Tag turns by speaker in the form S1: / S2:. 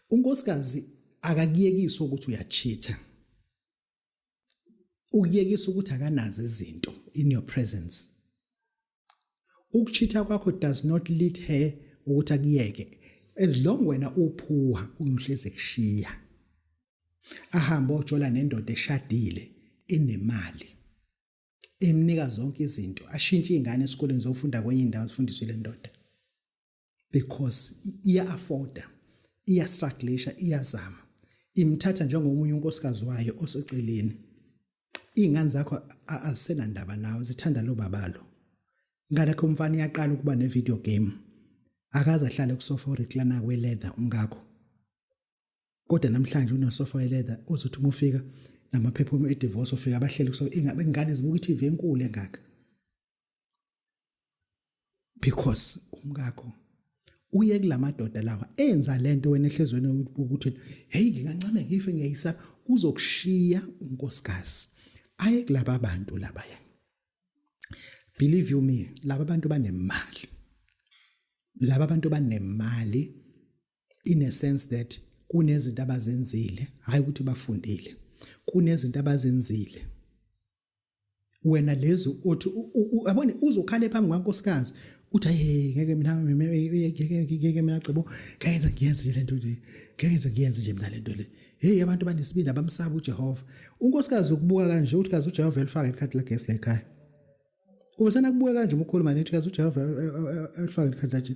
S1: unkosikazi akakuyekiswa ukuthi uyachitha ukuyekisa ukuthi akanazi izinto in your presence ukuchitha kwakho does not lead her ukuthi akuyeke as long wena uphuwa uyuhleze kushiya ahambe ojola nendoda eshadile enemali emnika zonke izinto ashintshe izingane esikoleni zofunda kwenye indawo zifundiswe le ndoda because iya afforda iya strugglisha iyazama imthatha njengomunye unkosikazi wayo oseceleni izingane zakho azisenandaba nawe zithanda lo babalo ngale kho umfana iyaqala ukuba ne video game akaze ahlale kusofa oriklana kwe leather umkakho kodwa namhlanje unosofa we leather uzothi uma ufika namaphepha e divorce ufika abahlele kusofa ingane zibuka i TV enkulu engaka because umkakho uye kulamadoda lawa enza lento wena ehlezweni ukuthi hey ngingancane ngife ngiyayisa uzokushiya unkosikazi aye kulaba bantu laba ya believe you me laba bantu banemali laba bantu banemali in a sense that kunezinto abazenzile hayi ukuthi bafundile kunezinto abazenzile wena lezi othi yabona uzokhale phambi kwankosikazi uthi hey ngeke mina ngeke mina cebo kayenza ngiyenze nje lento le kayenza ngiyenze nje mina lento le hey abantu banesibindi abamsaba uJehova unkosikazi ukubuka kanje uthi kazi uJehova elifaka ikhadi lagesi lekhaya Ubesana kubuka kanje umkhuluma nethi kazi uJehova elifaka ikhadi lagesi